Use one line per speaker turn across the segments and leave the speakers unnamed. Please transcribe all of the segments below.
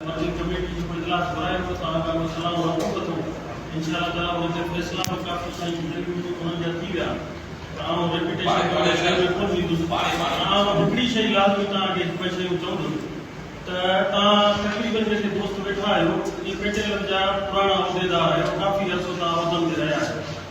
مرڪزي ڪميٽي جيڪو اجلاس گهرائي ٿو تعالٰي ڪا مسئلا اها حل ڪندو انشاء الله تعالٰي انهن جا فيصلا به ڪافي سائين جن انهن جا ٿي ويا ته آئون ريپيٽيشن ڪرڻ شهر ۾ ڪونه ويندس پر آئون هڪڙي شئي لازمي توهان کي ٻه شيون چوندس ته توهان تقريبن جيڪي دوست ويٺا آهيو اهي پيٽيلن جا پراڻا عهديدار آهيو ڪافي عرصو توهان عهدن تي رهيا آهيو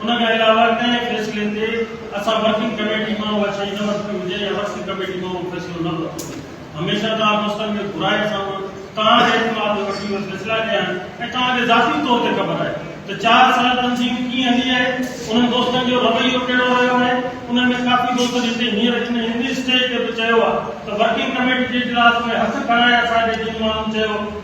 ان کان علاوه ڪنهن فيصلي تي اسان ورڪنگ ڪميٽي مان اها شيء نه ورتي هجي يا ورڪنگ ڪميٽي مان اهو فيصلو نه ورتو وڃي، هميشه توهان دوستن کي گهرائي سان به توهان جي اعتماد ۾ وٺي اهي فيصلا ڪيا آهن ۽ توهان کي ذاتي طور تي خبر آهي ته چار سال تنظيم ڪيئن هلي آهي، انهن دوستن جو رويو ڪهڙو رهيو آهي، انهن ۾ ڪافي دوستن هتي هينئر هن هندي اسٽيج تي به چيو آهي ته ورڪنگ ڪميٽي جي اجلاس ۾ هٿ کڻائي اسان جي جن ماڻهن چيو.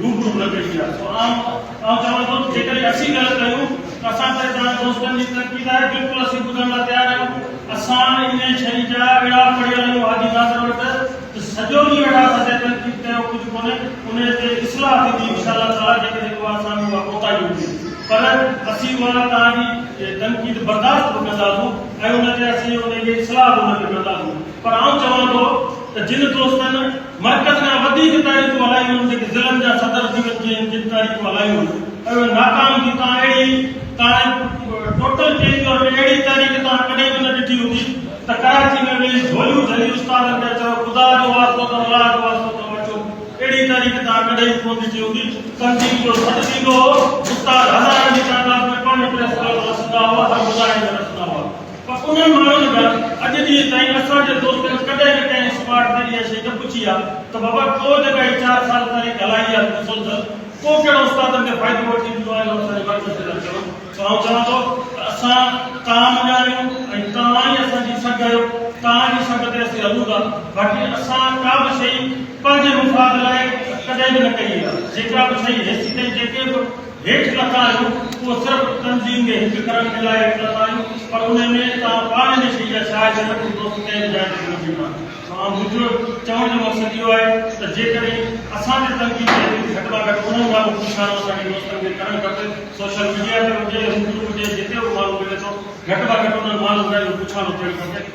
روبرو نه ملي آ سو آئون آئون چوان ٿو ته جيڪڏهن اسين ڳالهه ڪيون ته اسان سائين تهان دوستن جي ترقي لاء بلڪل اسين ٻڌڻ لاء تيار آهيون اسان انهي شئي جا اهڙا پڙهيل آهيون حاجي ناصر وٽ ته سڄو ڏينهن ويٺا سندي تنقيد ڪيو ڪجهه ڪونهي انهي تي اصلاح ٿيندي انشاء الله تعالي جيڪڏهن اها اسان ۾ اها ڪوتاهي هوندي پر اسين اها تهان جي تنقيد برداشت به ڪنداسون ۽ ان تي اسين انهي جي اصلاح به ان تي ڪنداسون پر آئون چوان ٿو ته جن دوستن مرڪز کان وڌيڪ تاريخون هلايون هيون جيڪي ضلعن جا صدر ٿي وڃجي هن جن تاريخون هلايون هيون ۽ اهي ناڪام ٿي تان اهڙي تاريخ ٽوٽل چينج ڪيو اهڙي اهڙي تاريخ تان ڪڏهن به نه ڏٺي هوندي ته ڪراچي ۾ ويهي جهوليون جهلي استادن کي چيو خدا جو واسطو اٿم الله جو واسطو اٿم اچو اهڙي تاريخ تان ڪڏهن به ڪونه ڏٺي هوندي تنظيم جو سڏ ٿيندو هو استاد هزارن جي تعداد ۾ پاڻ پريس ڪلب رسندا هئا ۽ ٻڌائيندڙ رسندا هئا. پر انهن ماڻهن به اڄ ڏينهن تائين اسان جي دوستن ڪڏهن به ڪنهن اسڪواڊ تي اها شيء نه پڇي آهي ته بابا ٽو جڳائي چار سال تاريخ هلائي آهي ته ڏسو ته ڪو ڪهڙو استادن کي فائدو وٺي ڏنو آهي جو اسان جي مرڪز تي ٿا چون سو آئون چوان ٿو ته اسان توهان مڃاڻيون ۽ توهان ئي اسان جي سگهه آهيو توهان جي سگهه تي اسين هلون ٿا باقي اسان ڪا به شيء پنهنجي مفاد لاء ڪڏهن به نه ڪئي آهي جيڪا به شيء هيسي تائين جيڪي به هيٺ لٿا آهيون اهو صرف تنظيم جي هڪ گرنٽ جي لاء هيٺ لٿا آهيون پر ان ۾ توهان پاڻ جي شيء جا شاهد آهيو ته دوست ڪنهن به جاء تي نه موجود آهن سو آء منهنجو چوڻ جو مقصد اهو آهي ته جيڪڏهن اسان جي تنظيم ۾ اهڙيون گهٽ مان گهٽ ٻه هزار ڪوششانو اسان کي دوستن کي ڪرڻ کپي سوشل ميڊيا تي هجي روبرو هجي جتي به ماڻهو ملي ٿو گهٽ مان گهٽ انهن ماڻهن سان اهو پڇاڻو ٿيڻ کپي